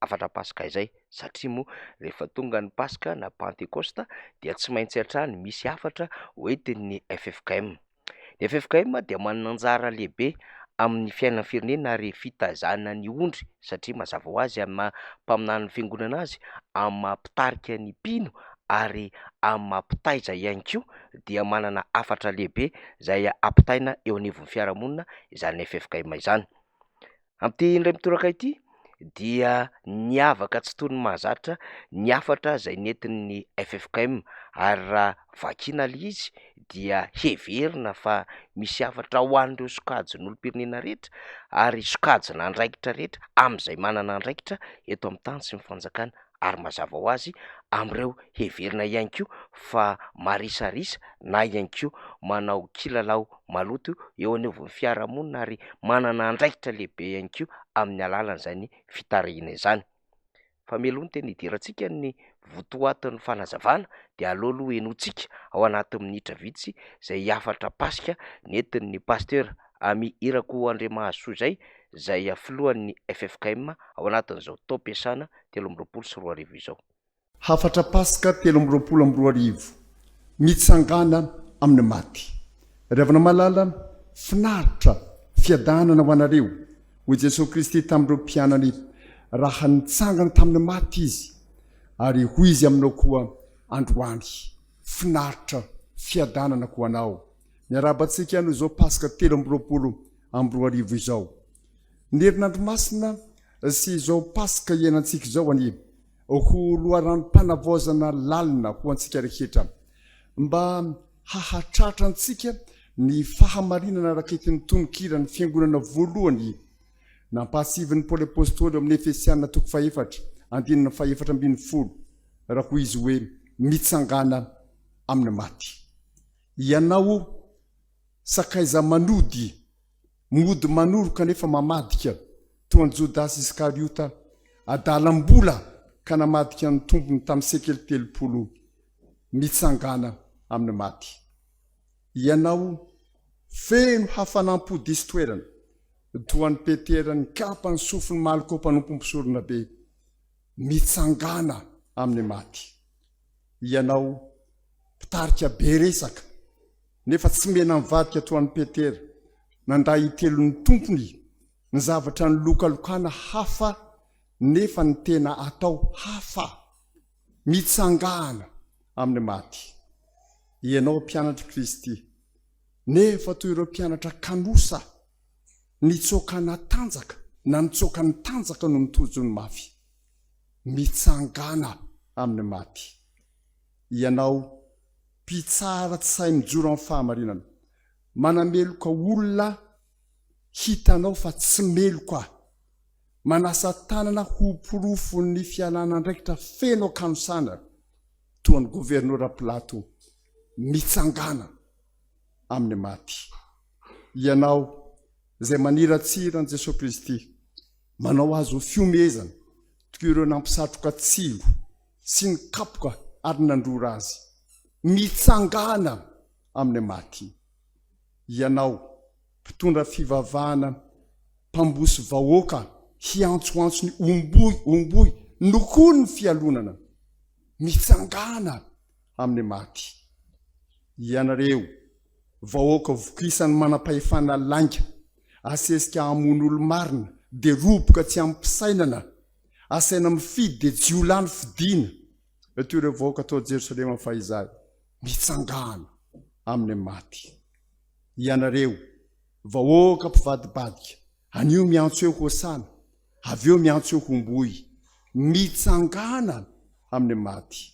hafatra paska izay satria moa rehefa tonga ny paska na pantekosta dia tsy maintsy hatrany misy hafatra hoentin'ny ffkm. Ny ffkm dia manana anjara lehibe amin'ny fiainan'ny firenena ary fitaizana ny ondry satria mazava ho azy amin'ny maha mpaminany ny fiangonana azy, amin'ny maha mpitarika ny mpino ary amin'ny maha mpitaiza ihany koa dia manana hafatra lehibe izay ampitaina eo anivon'ny fiarahamonina izany ffkm izany. Amin'ity indray mitoraka ity dia niavaka tsy toy ny mahazatra ny hafatra izay nentin'ny ffkm ary raha vakiana ilay izy dia heverina fa misy hafatra ho an'ireo sokajin'olom-pirenena rehetra ary sokajin'andraikitra rehetra amin'izay manana andraikitra eto amin'ny tany sy ny fanjakana. ary mazava ho azy amin'ireo heverina ihany koa fa marisarisa na ihany koa manao kilalao maloto eo anivon'ny fiarahamonina ary manana andraikitra lehibe ihany koa amin'ny alalan'izany fitarahiana izany. Fa mialoha ny tena hidirantsika ny votoatin'ny fanazavana dia aleo aloha henointsika ao anatin'ny minitra vitsy izay hafatra Paska nentin'ny Pasitera Amy Irakoandriamahasoa izay, izay filohan'ny ffkm ao anatin'izao taom-piasana telo amby roapolo sy roa arivo izao. Hafatra Paska telo amby roapolo amby roa arivo, Mitsangàna amin'ny maty. Ry havana malala, finaritra, fiadanana ho anareo, hoy Jesosy Kristy tamin'ireo mpianany, raha nitsangana tamin'ny maty Izy. Ary hoy Izy aminao koa androany, Finaritra, fiadanana ho anao. Miarahaba antsika noho izao Paska telo amby roapolo amby roa arivo izao. Ny herinandro masina sy izao Paska iainantsika izao anie ho loharanom-panavaozana lalina ho antsika rehetra, mba hahatratra antsika ny fahamarinana raketry ny tononkiran'ny fiangonana voalohany nampahatsiahivin'i Paoly Apostoly ao amin'ny Efesiana toko fahefatra andininy fahefatra ambin'ny folo, raha hoy izy hoe, Mitsangàna amin'ny maty, ianao sakaiza-manody. Mody manoro kanefa mamadika, toa an'i Jodasy Iskariota, adalam-bola ka namadika ny tompony tamin'ny sekely telopolo mitsangàna amin'ny maty. Ianao, feno hafanam-po diso toerana, toa an'i Petera nikapa ny sofin'i Malko mpanompo mpisoronabe, mitsangàna amin'ny maty. Ianao, mpitarika be resaka, Nefa tsy mena mivadika toa an'i Petera, nandray hitelo ny Tompony ny zavatra nilokalokana hafa nefa ny tena atao hafa, mitsangana amin'ny maty. Ianao mpianatr'i Kristy, nefa toy ireo mpianatra kanosa nitsoaka natanjaka na nitsoaka nitanjaka noho ny tojo ny mafy, mitsangana amin'ny maty. Ianao. Mpitsara tsy sahy mijoro amin'ny fahamarinana. Manameloka olona aho, hitanao fa tsy meloka aho. Manasa tanana ho porofon'ny fialan'andraikitra feno an-kanosana toa an'i Governora Pilato mitsangàna amin'ny maty. Ianao izay maniratsira an'i Jesoa Kristy, manao azy ho fihomehezana toy ireo nampisatroka tsilo. sy ny kapoka ary nandrora azy mitsangàna amin'ny maty. Ianao, mpitondra fivavahana mpambosy vahoaka hiantsoantso ny Omboy, Omboy, nokoa ny fialonana mitsangàna amin'ny maty. Ianareo, vahoaka vokisan'ny manam-pahefana lainga, asesika hamono olo-marina dia roboka tsy amim-pisainana, asaina mifidy dia jiolahy no fidiana, eto ireo vahoaka tao Jerosalema fahizay, mitsangàna amin'ny maty. Ianareo, vahoaka mpivadibadika, anio miantso eo Hosana, avy eo miantso eo Homboy, mitsangàna amin'ny maty.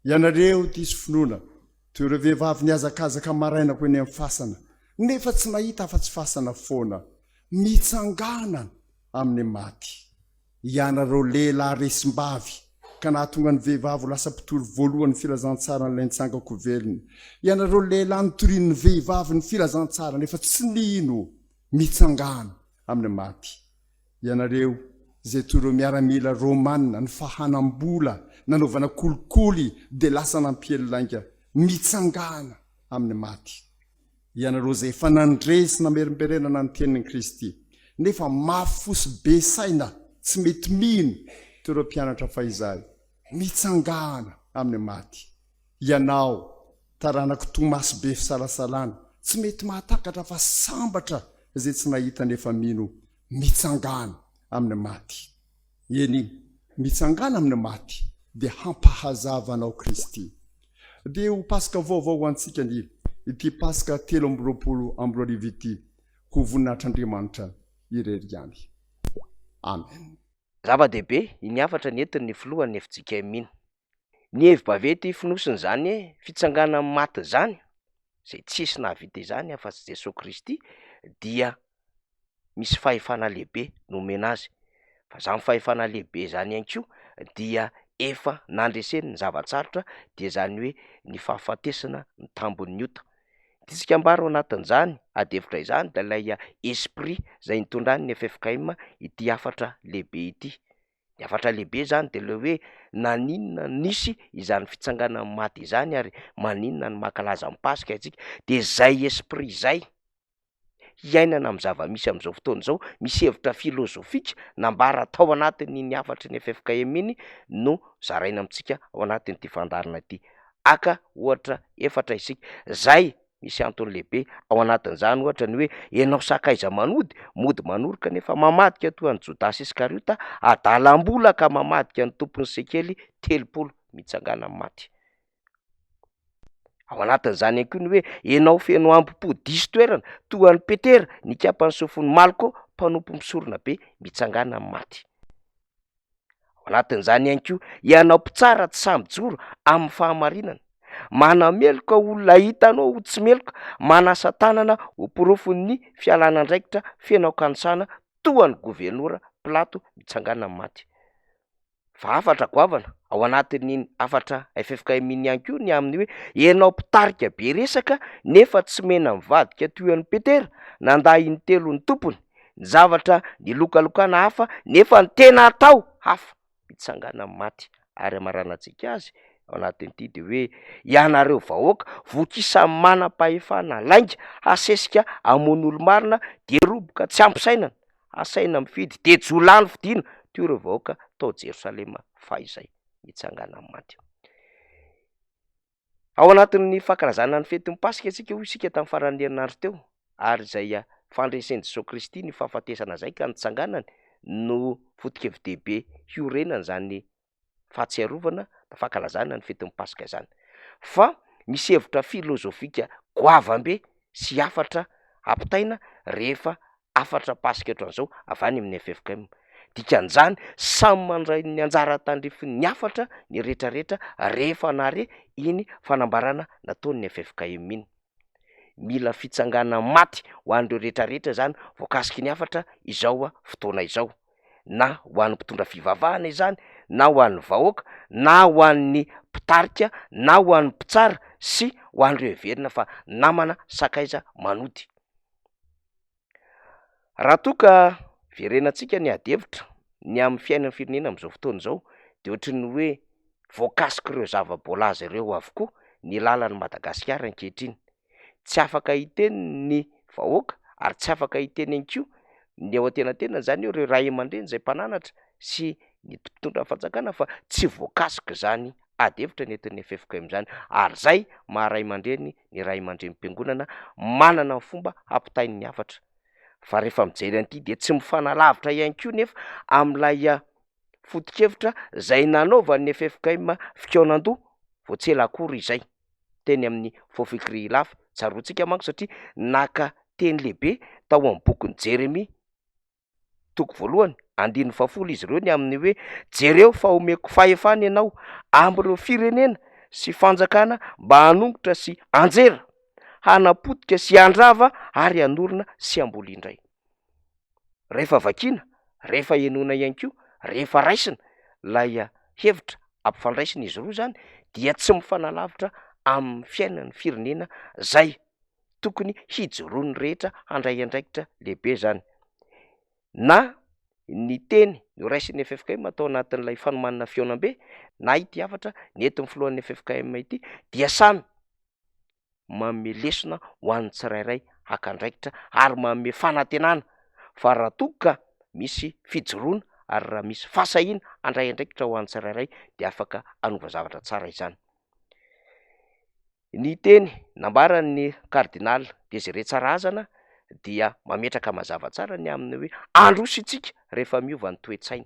Ianareo diso finoana, toy ireo vehivavy nihazakazaka maraina ho eny amin'ny fasana, nefa tsy nahita afa-tsy fasana foana, mitsangàna amin'ny maty. Ianareo lehilahy resim-bavy ka nahatonga ny vehivavy ho lasa mpitory voalohan'ny filazantsaran'ilay nitsangako velona. Ianareo lehilahy notorian'ny vehivavy ny filazantsara nefa tsy nino mitsangana amin'ny maty. Ianareo izay toy ireo miaramila romana nifahanam-bola nanaovana kolikoly dia lasa nampiely lainga mitsangana amin'ny maty. Ianareo izay efa nandre sy namerimberenana ny tenin'i Kristy, nefa mafy fo sy be saina, tsy mety mino toy ireo mpianatra fahizay, mitsangàna amin'ny maty. Ianao, taranak'i Tomasy be fisalasalana, tsy mety mahatakatra fa sambatra izay tsy nahita nefa mino, mitsangàna amin'ny maty. Eny, mitsangàna amin'ny maty, dia hampahazava anao Kristy. Dia ho Paska vaovao ho antsika ny ity Paska telo amby roapolo amby roa arivo ity, ho voninahitr'Andriamanitra irery ihany. Amen. Zava-dehibe iny hafatra nentin'ny filohan'ny fjkm iny. Ny hevi-baventy ifonosiny izany hoe fitsanganan'ny maty izany, izay tsisy nahavita izany afa-tsy Jesoa Kristy, dia misy fahefana lehibe nomena azy, fa izany fahefana lehibe izany ihany koa dia efa nandreseny ny zava-tsarotra, dia izany hoe ny fahafatesana ny tambin'ny ota. Ity tsikambaro anatin'izany ady hevitra izany dia ilay esprit izay nitondrany ny ffkm ity hafatra lehibe ity. Ny hafatra lehibe izany dia ilay hoe naninona no nisy izany fitsanganan'ny maty izany ary maninona no mankalaza ny Paska isika? Dia izay esprit izay, hiainana amin'ny zava-misy amin'izao fotoana izao, misy hevitra filozofika nambara tao anatin'iny hafatry ny ffkm iny no zaraina amintsika ao anatin'ity fandaharana ity. Haka ohatra efatra isika, izay Misy antony lehibe ao anatin'izany, ohatra, ny hoe ianao sakaiza manody, mody manoroka nefa mamadika toa an'i Jodasy Iskariota, adalam-bola ka mamadika ny tompon'ny sekely telopolo mitsangana amin'ny maty. Ao anatin'izany ihany koa ny hoe ianao feno hambom-po diso toerana toa an'i Petera, nikapan'ny sofin'i Malko, mpanompo mpisorona be, mitsangana amin'ny maty. Ao anatin'izany ihany koa ianao mpitsara tsy sahy mijoro amin'ny fahamarinana, manameloka olona hita anao ho tsy meloka, manasa tanana ho porofon'ny fialana andraikitra feno an-kanosana toa an'i governora Pilato mitsangàna amin'ny maty. Fa hafatra goavana ao anatin'iny hafatra ffkm iny ihany koa ny amin'ny hoe ianao mpitarika be resaka nefa tsy mena mivadika toy an'i Petera nandà intelo ny tompony, ny zavatra nilokalokana hafa nefa ny tena atao hafa, mitsangana amin'ny maty ary hamaranantsika azy ao anatin'ity dia hoe ianareo vahoaka voky isan'ny manam-pahefana lainga hasesika hamono olo-marina dia roboka tsy ampy sainana hasaina mifidy dia jo lany fidina toy ireo vahoaka tao Jerosalema fahizay, mitsangana amin'ny maty. Ao anatin'ny fankalazana ny fetin'ny Paska isika, hoy isika tamin'ny faran'ny herinandro teo, ary izay fandresen'i Jesoa Kristy ny fahafatesana izay ka nitsanganany no foto-kevi-dehibe hiorenana izany fahatsiarovana na fankalazana ny fetin'ny Paska izany. Fa misy hevitra filozofika goavam-be sy hafatra ampitaina rehefa hafatra paska ohatran'izao avy any amin'ny ffkm. Dikan'izany, samy mandray ny anjara tandrifiny ny hafatra ny rehetrarehetra rehefa nahare iny fanambarana nataon'ny ffkm iny. Mila fitsanganana maty ho an'ireo rehetrarehetra izany voakasiky ny hafatra izao fotoana izao, na ho an'ny mpitondra fivavahana izany, na ho an'ny vahoaka, na ho an'ny mpitarika, na ho an'ny mpitsara sy ho an'ireo heverina fa namana sakaiza manody. Raha toa ka verenantsika ny ady hevitra ny amin'ny fiainan'ny firenena amin'izao fotoana izao dia ohatry ny hoe voakasik'ireo zava-boalaza ireo avokoa ny lalan'i Madagasikara ankehitriny, tsy afaka hiteny ny vahoaka ary tsy afaka hiteny ihany koa ny eo antenantenany, izany hoe ireo ray aman-dreny izay mpananatra sy ny mpitondra ny fanjakana fa tsy voakasik'izany ady hevitra nentin'ny FFKM izany ary izay maha ray aman-dreny ny ray aman-drenim-piangonana manana ny fomba hampitainy ny hafatra, fa rehefa mijery an'ity dia tsy mifanalavitra ihany koa nefa amin'ilay foto-kevitra izay nanaovan'ny ffkm fikaonandoha vao tsy ela akory izay, teny amin'ny Fofok'ry Ilafy, tsaroantsika manko satria naka teny lehibe tao amin'ny bokin'i Jeremia. toko voalohany, andininy fahafolo, izy ireo ny amin'ny hoe, Jereo fa omeko fahefana ianao amin'ireo firenena sy fanjakana mba hanongotra sy hanjera, hanapotika sy handrava ary hanorina sy hamboly indray. Rehefa vakiana, rehefa henoina ihany koa, rehefa raisina ilay hevitra ampifandraisina izy roa izany dia tsy mifanalavitra amin'ny fiainan'ny firenena izay. tokony hijoroan'ny rehetra handray andraikitra lehibe izany na ny teny noraisin'ny ffkm atao anatin'ilay fanomanana fihaonambe na ity hafatra nentin'ny filohan'ny ffkm ity dia samy manome lesona ho an'ny tsirairay haka andraikitra ary manome fanantenana fa raha toa ka misy fijoroana ary raha misy fahasahiana handray andraikitra ho an'ny tsirairay dia afaka hanova zavatra tsara izany. Ny teny nambaran'ny kardinaly Désiré Tsarazana dia mametraka mazava tsara ny amin'ny hoe handroso isika rehefa miova ny toe-tsaina.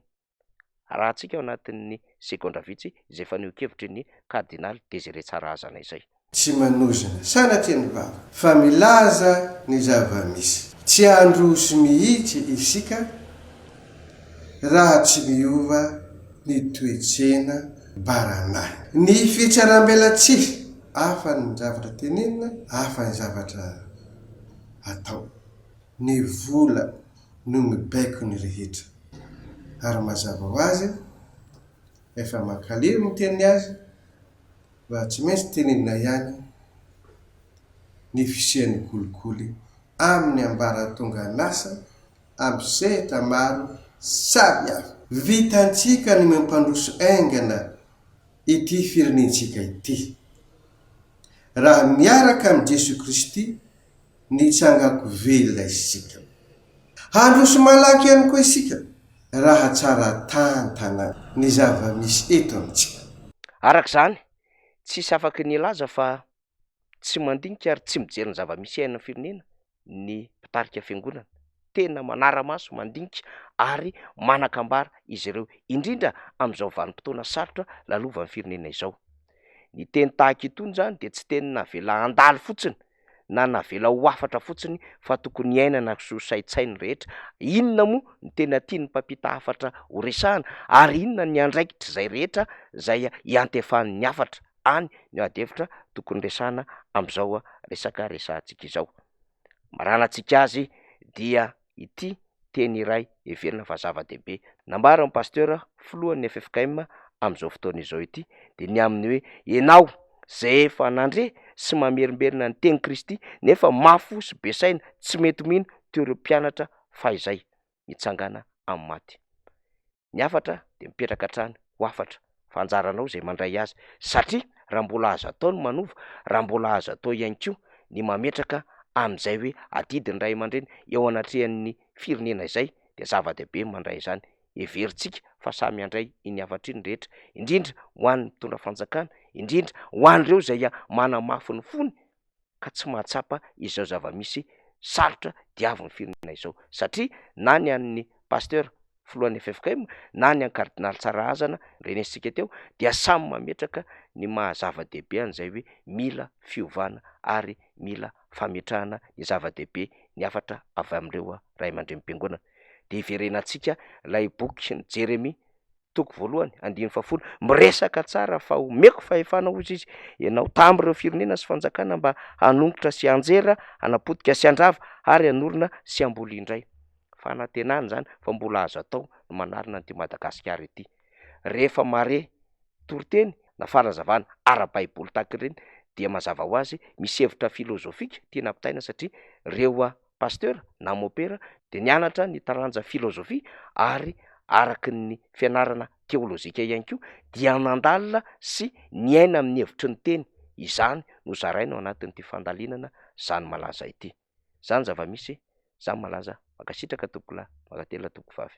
Arahantsika ao anatin'ny segondra vitsy izay fanehoan-kevitry ny kardinaly Désiré Tsarazana izay. Tsy manozona sanatria ny vava, fa milaza ny zava-misy. Tsy handroso mihitsy isika. raha tsy miova ny toe-tsena baranahiny. Ny fitsarambelatsihy, hafa ny zavatra tenenina, hafa ny zavatra atao. Ny vola no mibaiko ny rehetra. Ary mazava ho azy, efa mankalery ny miteny azy, raha tsy maintsy tenenina ihany ny fisian'ny kolikoly amin'ny ambaratongan'asa, aby sehatra maro sary aho. Vitantsika ny mampandroso haingana ity firenentsika ity. Raha miaraka amin'i Jesoa Kristy nitsangako velona isika. Handroso malaky ihany koa isika raha tsara tantana ny zava-misy eto amintsika. Araka izany, tsisy afaky ny hilaza fa tsy mandinika ary tsy mijery ny zava-misy iainan'ny firenena ny mpitarika fiangonana. Tena manara-maso, mandinika ary manan-kambara izy ireo, indrindra amin'izao vanim-potoana sarotra lalovan'ny firenena izao. Ny teny tahaka itony izany dia tsy teny navela handalo fotsiny na navela ho hafatra fotsiny fa tokony iainana sy ho saintsain'ny rehetra. Inona moa ny tena tian'ny mpampita hafatra horesahana ary inona ny andraikitr'izay rehetra izay iantefan'ny hafatra? any no ady hevitra tokony resahana amin'izao resaka resahantsika izao. Maràna antsika azy dia ity teny iray heverina fa zava-dehibe nambaran'ny Pastera filohan'ny ffkm amin'izao fotoana izao ity dia ny amin'ny hoe ianao izay efa nandre sy mamerimberina ny tenin'i Kristy nefa mafy fo sy be saina tsy mety mino toy ireo mpianatra fahizay mitsangana amin'ny maty. ny hafatra dia mipetraka hatrany ho hafatra fa anjaranao izay mandray azy satria raha mbola azo atao ny manova, raha mbola azo atao ihany koa ny mametraka amin'izay hoe adidy ny ray aman-dreny eo anatrehan'ny firenena izay dia zava-dehibe ny mandray izany, heverintsika fa samy handray iny hafatra iny ny rehetra indrindra ho an'ny mpitondra fanjakana, indrindra ho an'ireo izay manamafy ny fony. ka tsy mahatsapa izao zava-misy sarotra diavin'ny firenena izao satria na ny an'ny Pasteur filohan'ny ffkm na ny an'i Kardinaly Tsarahazana renesintsika teo dia samy mametraka ny maha zava-dehibe an'izay hoe mila fiovana ary mila fametrahana ny zava-dehibe ny hafatra avy amin'ireo Ray aman-drenim-piangonana dia iverenantsika ilay bokin'i Jeremia toko voalohany andininy fahafolo, miresaka tsara fa omeko fahefana hozy izy ianao tam ireo firenena sy fanjakana mba hanongotra sy hanjera, hanapotika sy handrava ary hanorina sy hamboly indray. Fanantenana izany fa mbola azo atao ny manarina an'ity Madagasikara ity. Rehefa mahare toriteny na fanazavana ara-baiboly tahaka ireny dia mazava ho azy misy hevitra filozofika tiana ampitaina satria ireo Pasteur na Mopera dia nianatra ny taranja filozofia ary araka ny fianarana teolojika ihany koa dia nandalina sy niaina amin'ny hevitry ny teny izany no zaraina ao anatin'ity fandalinana zany malaza ity zany zava-misy zany malaza mankasitraka tompokolahy mankatelina tompokovavy.